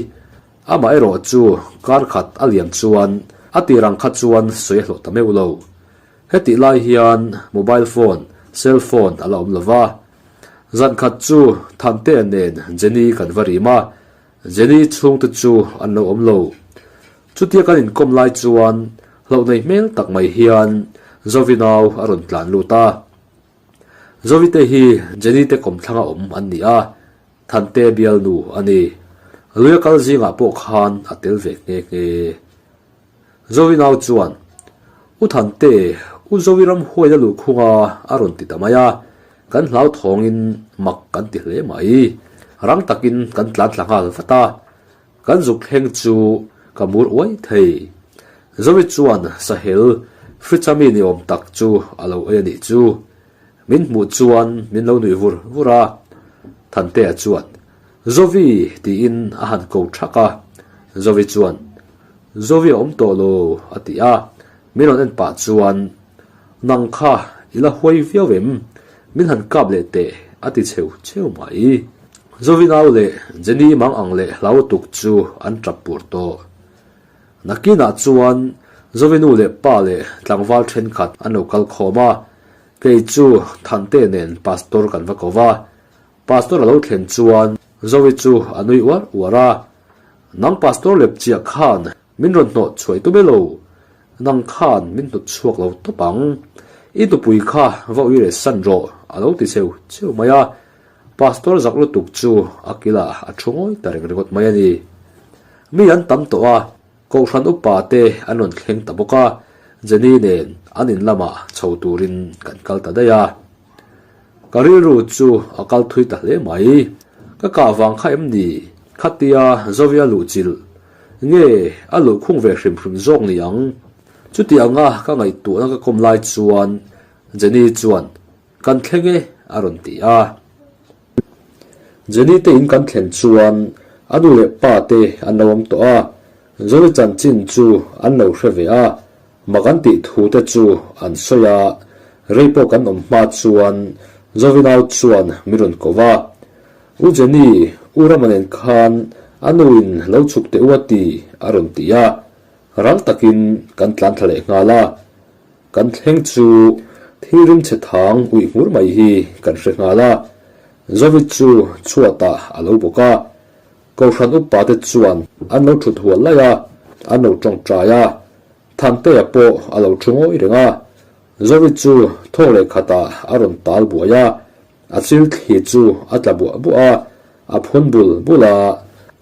Amah erawh chu kar khat a liam chuan a tirang kha chuan sawi a hlawh ta meuh lo. Hetih lai hian mobile phone, cell phone, a la awm lo va, zan khat chu Thantea nen Jenny kan va rim a, Jenny chhung te chu an lo awm lo. Chutia kan inkawm lai chuan hloh nei hmel tak mai hian Zovi nau a rawn tlan lut a. Zovi te hi Jenny te kawm thlanga awm an ni a, Thantea bialnu a ni. Luia kal zingah pawh khan a tel ve nghe nghe. Zovinau chuan, U Thante, U Zovi ramhuai na lukhunga a rawn ti ta mai a, kan hlauthawngin mak kan ti hle mai. Rang takin kan tlantla nghal vat a, kan zuk thleng chu ka mur uai thei. Zovi chuan sahel, fridge-a mi ni awm tak chu a lo ei a nih chu, Min hmuh chuan min lo nuih vur vur a, Thantea chuan, Zovi! tiin a han ko thak a, Zovi chuan, Zovi a awm tawh lo, a ti a, min rawn en pah chuan, Nang kha i la huai viau em? Min han kap leh teh, a ti cheu cheu mai. Zovi nau leh Jenny mang ang leh hlautuk chu an tap pur tawh. Nakinah chuan Zovi nu leh pa leh tlangval thenkhat an lo kal khawm a, Kei chu Thante nen Pastor kan va ko va, Pastor a lo thlen chuan Zoe chu a nui uar uar a, Nang Pastor lepchiah khan min rawn hnawh chhuai tawp e lo, nang khan min hnawt chhuak lo tawp ang, i tupui kha va ui reh san rawh, a lo ti cheu cheu mai a, Pastor zak lutuk chu a kilah a thu ngawi ta reng ringawt mai a ni. Mi an tam tawh a. Kohhran upa te an rawn thleng ta bawk a, Jenny nen an in lama chho turin kan kal ta daih a. Ka rilru chu a kal thui ta hle mai. Ka kah vang kha em ni? Khatia Zoe-a luh chilh. Nge a luh khung ve hrim hrim zawk ni ang? Chutianga ka ngaihtuahna ka kawm lai chuan Jenny chuan. Kan thleng e, a rawn ti a. Jenny te in kan thlen chuan a nu leh pa te an lo awm tawh a, Johnny chanchin chu an lo hre ve a, mah kan tih thu te chu an sawi a, rei pawh kan awm hma chuan Jovinau chuan min rawn ko va, U Jenny, U Rama nen khan a nu in lo chhuk teh u a ti, a rawn ti a, rang takin kan tlan thla leh nghal a. Kan thleng chu thilrim chhe thang ui hmur mai hi kan hre nghal a, Zovit chu chhuatah a lo bawk a, Kohhran upa te chuan an lo thut hual lai a, an lo tawngtai a, Thantea pawh a lo thu ngawi reng a, Zovit chu thawk leh khatah a rawn tal buai a, A thil thli chu a tla buah buah a, a phun bul bul a,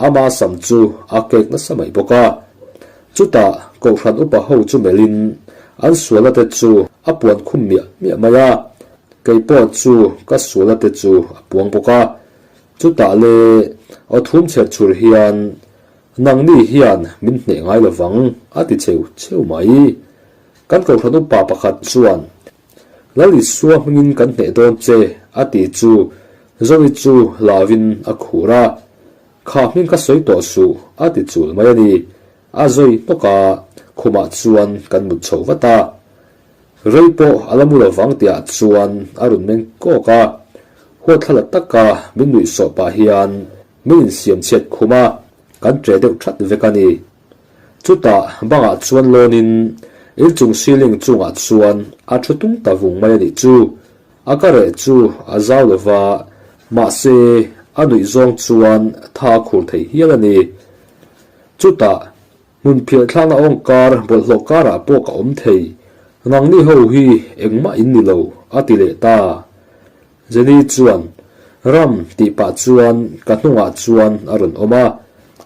ama sam chu a kek nasa mai bawk a. Chutah Kohhran upa ho chu melhin an suala te chu a puan khum miah miah mai a, kei pawh chu ka suala te chu a puang bawk a. Chutah le aw thum chher chhur hian nang ni hian min hneh ngai lo vang a ti cheu cheu mai. Kan Kohhran upa pakhat chuan Lalisua hmingin kan hneh dawn che a ti chu Zoe chu lavin a khur a, Kha hming ka sawi tawh suh a ti chul mai a ni. A Zoe hnawka khumah chuan kan mut chho vat a, Rei pawh a la mu lo vang tih ah chuan a run meng kawk a, huat thla la taka min nuih sawh pah hian min insiam chhiat khum a, kan ṭe deuh ṭhat vek a ni. Chutah bangah chuan lawnin Ilchung Siling chungah chuan a thu tum ta vung mai a nih chu. A ka reh chu a zau lo va, mahse a nuih zawng chuan tha a khur thei hial a ni. Chutah hmun phialthlanga awng kar bawlhhlawh karah pawh ka awm thei, ngang ni ho hi engmah in ni lo a ti leh ta. Jenny chuan, Ram tih pah chuan ka hnungah chuan a rawn awm a.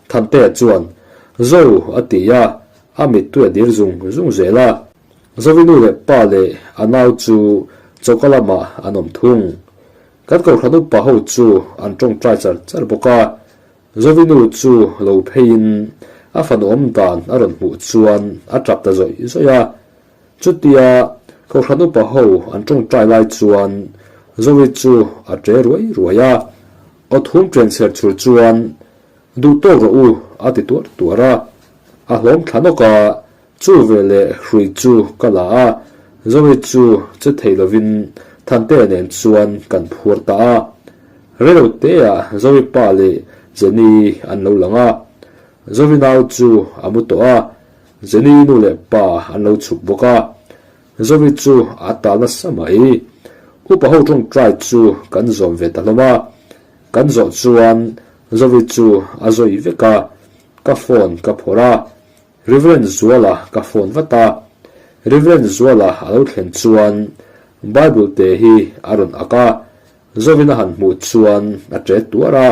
Thante chuan, Zo, a ti a, a mittui a dir zung zung zel a. Zovinu leh pa leh a nau chu choka lamah an awm thung. Kan kohhran upa ho chu an tawngtai char char bawk a. Zovinu chu lo pheiin a fanawm dan a rawn hmuh chuan a tap ta zawih zawih a. Chutia Hlohran upa ho an tawngtai lai chuan Zorit chu a ṭe ruai ruai a, Aw thum ṭen ser chhur chuan Duhtawk rawh u a ti tuar tuar a, a hlawm thla nawk a, chu ve leh hrui chu ka la a, Zorit chu che thei lovin Thante nen chuan kan phuar ta a. Relo teah Zorit pa leh Jenny an lo lang a, Zorinau chu a mu tawh a, Zeni nu leh pa an lo chhuk bawk a, Zovi chu a tal nasa mai. Upa ho tawngtai chu kan zawh ve ta hlawm a, kan zawh chuan Zovi chu a zawi vek a, ka phone ka phawrh a, Reverend Zuala ka phone vat a, Reverend Zuala a lo thlen chuan Bible te hi a rawn ak a, Zovin a han hmuh chuan a ṭet tuar a,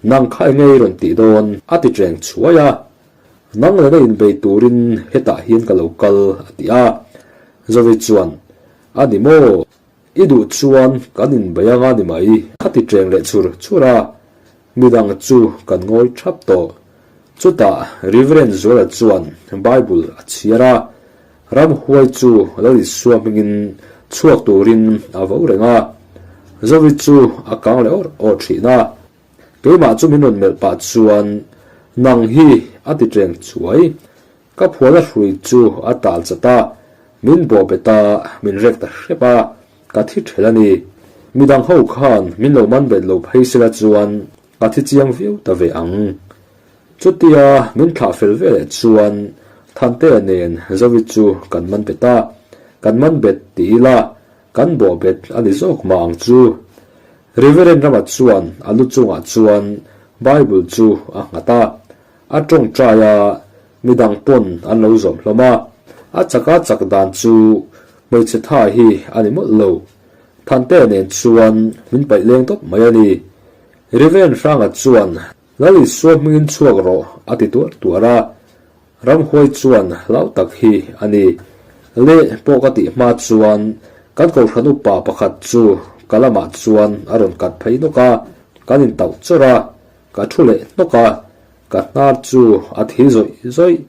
Nang khai ngei rawn tih dawn, a tiṭeng chhuai a. Nang leh na inbei turin hetah hian ka lo kal, a ti a. Zovi chuan, A ni maw? I duh chuan kan inbei anga ni mai? Kha ti cheng leh chhur chhur a, mi dang chu kan ngawi thap tawh. Chutah Reverend Zuala chuan Bible a chhiar a, ram huai chu a lo rit suam hmingin chhuak turin a vo reng a. Zovi chu a kang leh awr awr thin a. Keimah chu min rawn melh pah chuan nang hi a ti tleng chuai. Ka phuana hrui chu a tal chat a, min bawhbet a, min rek ta hrep a, ka thi ṭhel a ni. Midang ho khan min lo man bet lo phei sela chuan ka thi chiang viau ta ve ang. Chutia min thlah fel ve leh chuan Thantea nen Zoe chu kan man bet a, kan man bet ti ila, Kan bawhbet a ni zawk mah ang chu. Reverend Ramat chuan a lu chungah chuan Bible chu a nghat a, a tawngtai a, midang pawn an lo zawm hlawm a, a chaka chak dan chu hmeichhe tha hi a ni mawlh lo. Thante nen chuan min paih leng tawp mai a ni. Reverend Hranga chuan Lalit sual hmingin chhuak rawh, a ti tuar tuar a. Ramhuai chuan hlau tak hi a ni. Le pawh ka tih hma chuan kan kohhran upa pakhat chu ka lamah chuan a rawn kat phei nawk a, kan intauh chawr a, ka thu leh hnawk a, ka hnar chu a thil zawih zawih,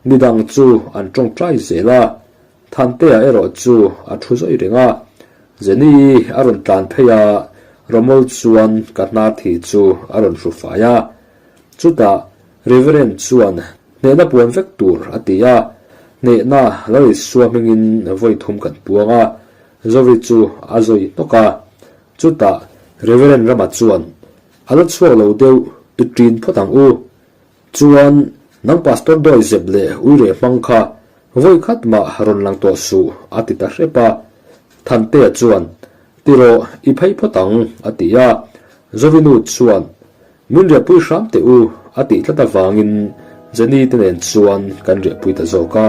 midang chu an tawngtai zel a. Thantea erawh chu a thu zawih reng a, Jenny a rawn tlan phei a, Romol chuan ka hna thi chu a rawn hru fai a. Chutah Reverend chuan hnehna puan vek tur a ti a, hnehna la rit suahmengin vawi thum kan puang a, Zoe chu a zawi hnawk a. Chutah Reverend Rama chuan, A la chhuak lo deuh, tu ṭin phawt ang u, Chuan nang Pastor Dawih Zep leh Uireh Hmang kha vawi khat mah rawn lang tawh suh, a ti ta hrep a. Thantea chuan, Ti rawh, i phei phawt ang, a ti a. Zawinu chuan, Min riahpui hram teh u, a tih tlat avangin Jenny te nen chuan kan riahpui ta zawk a.